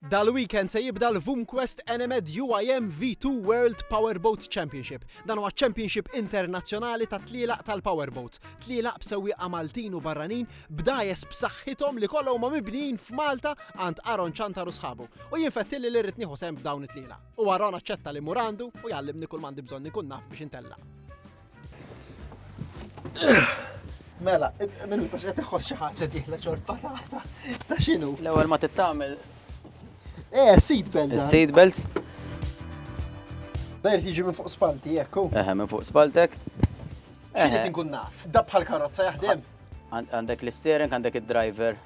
Dal-weekend se jibda l-VUMQuest Enemed UIM V2 World Powerboat Championship. Dan huwa ċ-championship internazzjonali tat-tlielaq tal-powerboats, tlielaq b'sewwieqa Maltin u barranin b'dgħajjes b'saħħithom li kollha huma mibnijin f'Malta għand Aaron Ciantar u sħabu. U jien fettilli li rrid nieħu sehem f'dawn it-tlielaq. U Aaron aċċetta li mmur għandu u jgħallimni kull m'għandi bżonn inkun naf biex intellaq. Mela, minn ta' xed iħos xi ħaġa diħla ċorpa ta' ta' xinu. L-ewwel ma tittamel. Eh, seat belt. Seat belts. Dajr tiġi minn fuq spalti, ekku. Eħe, minn fuq spaltek. Eħe. Tinkun naf. Dab bħal karozza jaħdem. Għandek l-steering, għandek id-driver,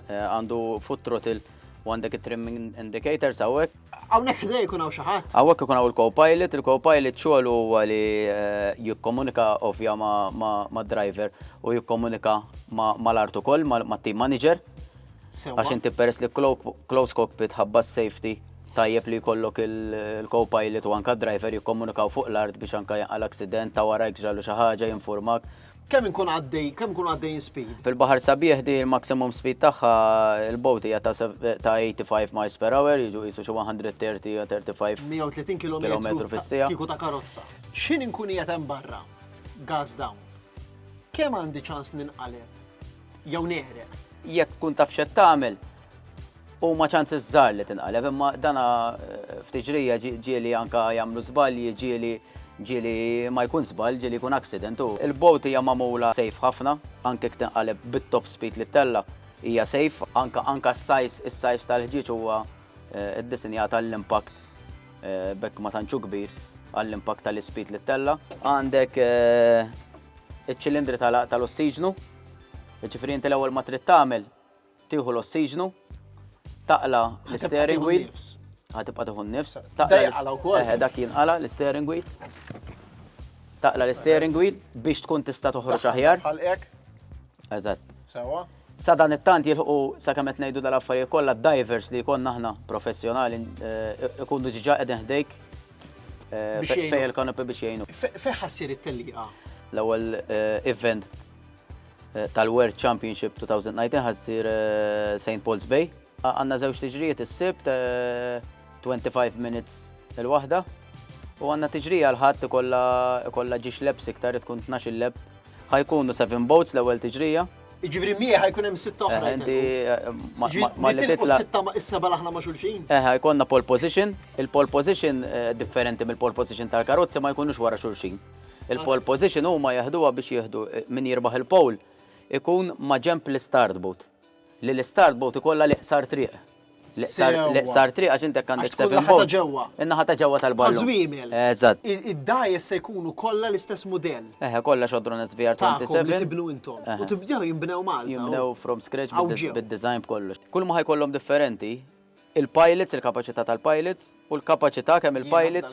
eh, għandu foot throttle, u għandek it-trimming indicator sawek. Hawnhekk ħdej ikun hawn xi ħadd. Hawnhekk ikun hawn il-co-pilot, il-co-pilot xogħol huwa li eh, jikkomunika ovvja ma' driver u jikkomunika mal-art ukoll mat-team manager. Għax inti peress li close cockpit ħabba safety tajjeb li jkollok il-co-pilot u anka driver jikkomunikaw fuq l-art biex anka jaqal accident ta' wara jgġalu xi ħaġa jinfurmak Kemm inkun għaddej, kemm inkun għaddej speed? Fil-baħar sabiħ di l-maximum speed tagħha il-boat hija ta' 85 miles per hour, jiġu qisu xi 130 u 35 130 km fis-sija. Kieku ta' karozza. X'ħin inkun qiegħed hemm barra? Gas down. Kemm għandi ċans ninqaleb? Jew neħreb? Jekk kun taf x'qed tagħmel, Huma ċansi żgħar li tinqaleb, imma dana eh, ftit ġrija ġieli anka jagħmlu żbalji, ġieli ġieli ma jkun żball, ġieli jkun accident. Il-bot hija magħmula safe ħafna, anke tinqaleb bit-top speed li tella hija safe, anka anka s-sajs, is-sajs tal-ħġieġ huwa eh, ddisinjat għall-impact eh, bekk ma tantxu kbir għall-impact tal-ispit li tella. Għandek iċ-ċilindri tal-ossiġnu, ġifri inti l-ewwel ma trid tagħmel Tieħu l-ossiġnu, taqla l-steering wheel. Ħatibqa' tieħu n-nifs. Taqla jinqala wkoll. Eħe, dak jinqala l-steering wheel. Taqla l-steering wheel biex tkun tista' toħroġ aħjar. Ħalqek. Eżatt. Sewa. Sa dan it-tant jilħu sa kemm qed ngħidu dal-affarijiet kollha divers li jkollna aħna professjonali ikunu ġiġa qegħdin ħdejk fejn il-kanopi biex jgħinu. Fejn ħassir it-telliqa? L-ewwel event tal-World Championship 2019 ħassir eh, St. Paul's Bay. Għanna żewġ tiġrijiet is-sibt 25 eh, minutes il-waħda u għanna tiġrija l-ħadd ikolla ġiex lebs iktar tkun 12 leb. Ħajkunu 7 boats l-ewwel tiġrija. Iġibri mieħ ħajkun hemm sitta oħra. Eh, inti ma li titla. Sitta ma issa balaħna ma xulxin. Eh, ħajkonna pole position, il-pole position differenti mill-pole position tal-karozza ma jkunux wara xulxin. Il-pole position huma jeħduha biex jieħdu min jirbaħ il-pole ikun maġenb l-istart boot. Li l-istart boot ikollha l-iqsar triq. L-iqsar triq għax intek għandek seven boot. In-naħa ta' ġewwa tal-ballun. Tażwimel. Eżatt. Id-dajes se jkunu kollha l-istess mudell. Eħe, kollha xodron SVR 27. Tibnu intom. U tibdew jinbnew Malta. Jinbnew from scratch bid-design b'kollox. Kull ma ħajkollhom differenti, il-pilots, il-kapaċità tal-pilots u l-kapaċità kemm il-pilot